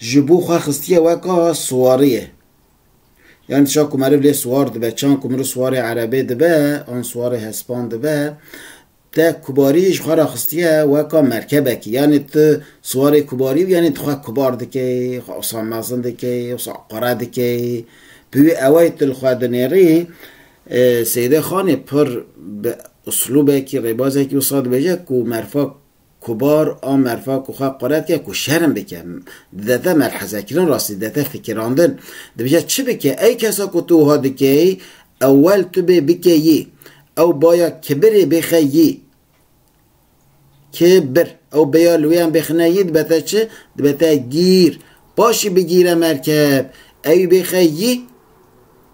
Ji bo xwe xistiye weka siwariyê. Yan çand ku meriv lê siwar dibe, çand ku meriv siwarê erebê dibe an siwarê hespan dibe, te kubariyê ji xwe re xistiye weka merkebekî. Yanê tu siwarê kubariyê û yanê tu xwe kubar dikey, xwe wisa mezin dikey, wisa qure dikey. Bi wî ewayî tu li xwe dinêrî. Seyîde Xanê pir bi uslûbekî, rêbazekî wisa dibêje ku merifa Kubar a merfa ku xwe quret ke ku şerm bike, didete melhezekirin rastî didete fikirandin. Dibêje çi bike ey kesa ku tu wiha dikeyî ewel tu bê bike yî. Ew baya kibirê bêxe yî. Ki bir. Ew bêya li wêyan bêxine yî dibete çi? Dibete gîr. Paşî bigîre merkeb. Ewî bêxe yî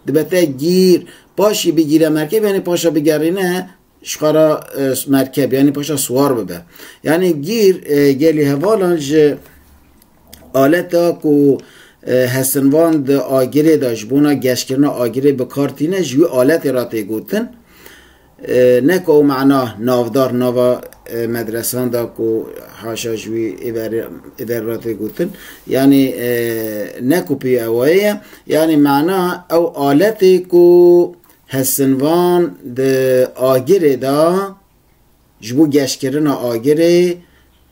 dibete gîr. Paşî bigîre merkeb yanî paşa bigerîne Şixara merkeb yanî paşa siwar bibe. Yanî gîr gelê hevalan ji aleta ku hesinvan di agirê de ji bona geşkirina agirê bi kar tîne ji wî aletê re tê gotin. Ne ku ew mana navdar nava medresan de ku haşa ji wî îverê re tê gotin. Yanî ne ku pê ew wayê ye. Yanî mana ew aletê ku Hestinvan di agirê de ji bo geşkirina agirê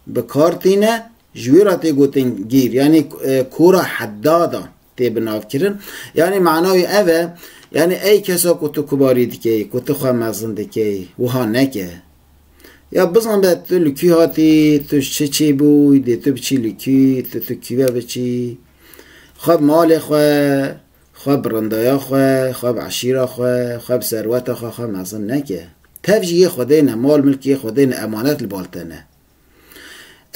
bi kar tîne, ji wê re tê gotin gîr yanî kora heddada tê bi nav kirin. Yanî mana wî ev e, yanî ey kesa ku tu kubarî dikeyî, ku tu xwe mezin dikeyî wiha neke. Ya bizan be tu li kî hatî, tu ji çi çê bûyî, dê tu biçî li kî, tu tu kî ve biçî, xwe malê xwe, Xwe bi rindaya xwe, xwe bi eşîra xwe, xwe bi serweta xwe xwe mezin neke. Tev jî yê Xwedê ne, mal milkê yê Xwedê ne, emanet li bal te ne.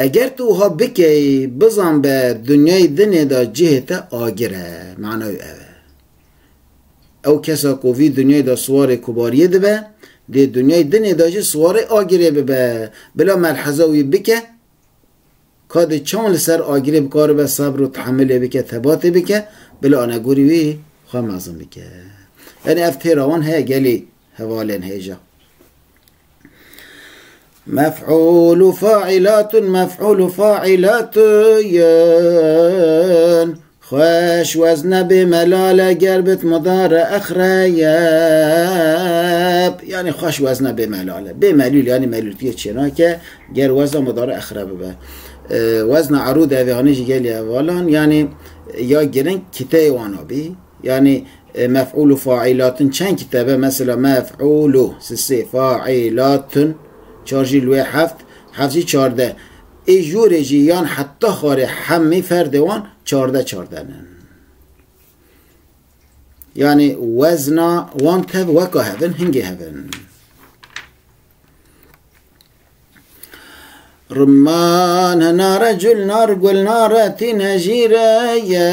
Eger tu wiha bikeyî, bizan be dinyayê dinê de cihê te agir e. Mana wî ev e. Ew kesa ku vî dinyayê de siwarê kubariyê dibe, dê dinyayê dinê de jî siwarê agirê bibe. Bila melheza wî bike, Ka di çawan li ser agirê bikaribe sebr û tehemilê bike, thebatê bike, bila anegorî wî xwe mezin bike. Yanî ev têra wan heye gelê hevalên hêja. Mef'ûl û fa'îlatun mef'ûl û fa'îlatun Xweş wez nebê melale ger bit mudare exreb. Yanî xweş wez nebê melale. Bê melûl yanî melûltiyê çênake ger weza mudare exreb bibe. Wezna erûd evê anî ji gelî hevalan yanî ya giring kiteyê wan abî. Yanî mef'ûl û faîlatun çend kitebe mesela mef'ûlû si sê faîlatun çar jî li wê heft heft jî çardeh. Ê jorê jî yan heta xwarê hemî ferdê wan çardeh çarden in. Yanî wezna wan tev weka hev in, hingê hev in. Rumman nare cul nar gul nare tîne jîre ye.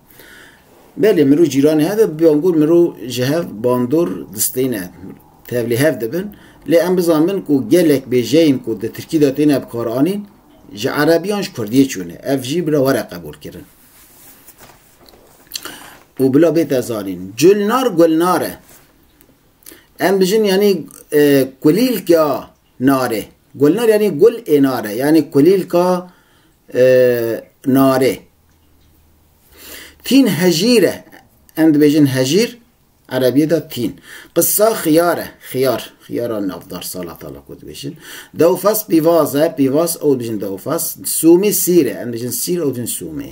Belê mirov cîranê hebe bi bangor mirov ji hev bandor distêne tevlî hev dibin lê em bizan bin ku gelek bêjeyên ku di tirkî de têne bikaranîn ji erebî yan ji kurdiyê çûne ev jî bila were qebûlkirin û bila bête zanîn culnar gulnar e em bijin yanî kulîlka Narê. Gulnar yanî gul ê nar e, yanî kulîlka narê. Tîn hejîr e. Em dibêjin hejîr, erebîyê de tîn. Qisa xiyar e, xiyar, xiyara navdar, salata la ku dibêjin. Dewfas pîvaz e, pîvaz, ew dibêjin dewfas. Sûmî sîr e, em dibêjin sîr, ew dibêjin sûmî.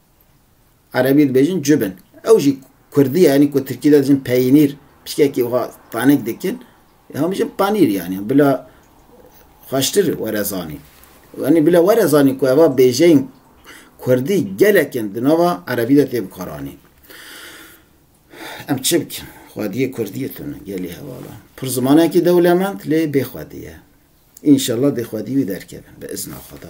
Erebî dibêjin cubin. Ew jî kurdî ye yanî ku tirkî de dijin peyînîr pişkekî wiha tanek dikin hema bijin panîr yanî bila xweştir were zanîn. Yanî bila were zanîn ku eva bêjeyên kurdî gelekin di nava erebî de tê bikaranîn. Em çi bikin? Xwediyê kurdî ye tune gelê hevala. Pir zimanekî dewlemend lê bêxwedî ye. Înşellah dê xwedî wî derkeve bi izna xweda.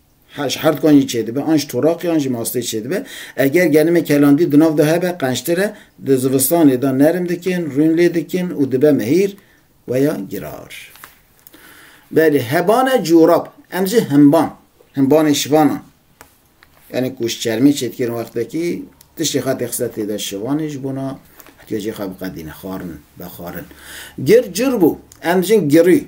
Her ji her dikan jî çêdibe, an ji toraqê an jî mastê çêdibe. Eger genimê kelandî di nav de hebe qençtir e, di zivistanê de nerm dikin, rûn lê dikin û dibe mehîr we ya girar. Belê heban e corab, em jî himban, himbanê şivan an. Yanî ku ji çermê çêdikirin wextekî tiştê xetê xise tê de şivanê ji bona ihtiyacê xwe biqedîne, xwarin, vexwarin. Gir cur bû, em jin girî,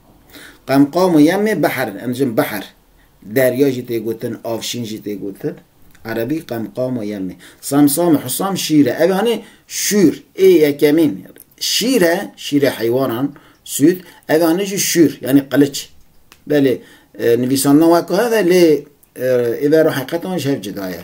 Qemqam û yemê behr em dijin behr. Derya jî tê gotin, avşîn jî tê gotin. Erebî qemqam û yemê. Samsam û husam şîr e. Ev anî şûr ê yekemîn şîr e, şîrê heywanan sûd. Ev anî jî şûr yanî qiliç. Belê nivîsandan wek hev e lê ê ver û heqetan ji hev cuda ye.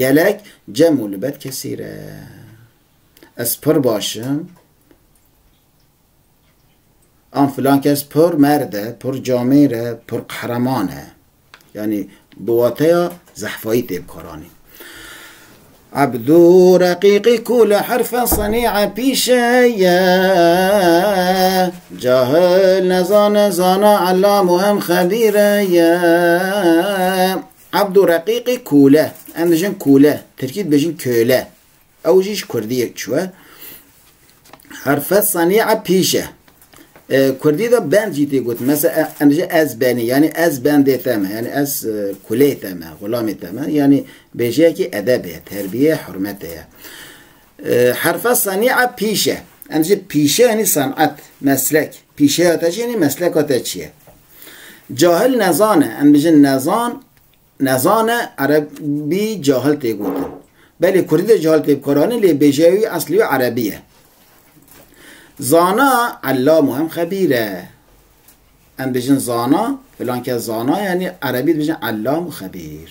Gelek cem û li bet kesî re. Ez pir baş im. An filan kes pir merd e, pir camêr e, pir qehreman e. Yanî bi wateya zehfayî tê bikaranîn. Ebdû reqîqî ku li herfe senîe pîşe ye, cahil nezane zana ellam û hem xebîre ye. Abdu Reqîqî Kûle, em dijin kûle, tirkî dibêjin köle, ew jî ji kurdiyê çûye. Herfe senî'a pîş e. Kurdî de bend jî tê gotin. Mesela em dijin ez benî, yanî ez bendê te me, yanî ez kuleyê te me, xulamê te me, yanî bêjeyekî edebê ye, terbiyê ye, hurmetê ye. Herfe senî'a pîş e. Em dijin pîşe yanî senet, meslek. Pîşeya te jî yanî mesleka te çi ye? Cahil nezan e, em dijin nezan, nezan e, erebî cahil tê gotin. Belê kurdî de cahil tê bikaranîn lê bêjeya wî eslî wî erebî ye. Zana ellam û hem xebîr e. Em dijin zana, filan kes zana yanî erebî dijin ellam û xebîr.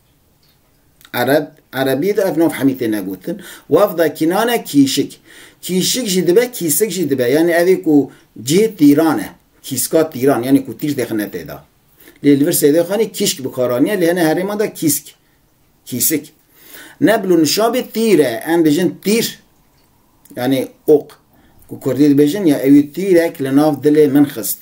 Ereb, Erebî de ev nav hemî tê negotin. Wafda Kînan e kîşik. Kîşik jî dibe, kîsik jî dibe. Yanî ev ê ku cihê tîran e. Kîska tîran, yanî ku tîr dixine tê de. Lê li vir Sêdê Xanî kîşk bi kar aniye, lê hene herêman de kîsk, kîsik. Ne bilo nişabê tîr e. Em dibêjin tîr, yanî ok. Ku kurdî dibêjin ya ewî tîrek li nav dilê min xist.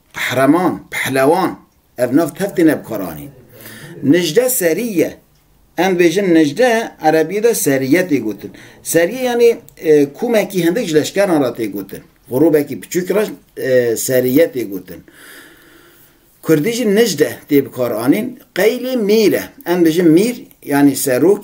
Qehreman, pehlewan, ev nav tev têne bikaranîn. Nijde serî ye. Em dibêjin nijde, erebîyê de serîye tê gotin. Serîye yanî komekî hindik ji leşkeran re tê gotin. Grûbekî piçûk re serîye tê gotin. Kurdî jî nijde tê bikaranîn. Qeylê mîr e. Em dibêjin mîr yanî serok,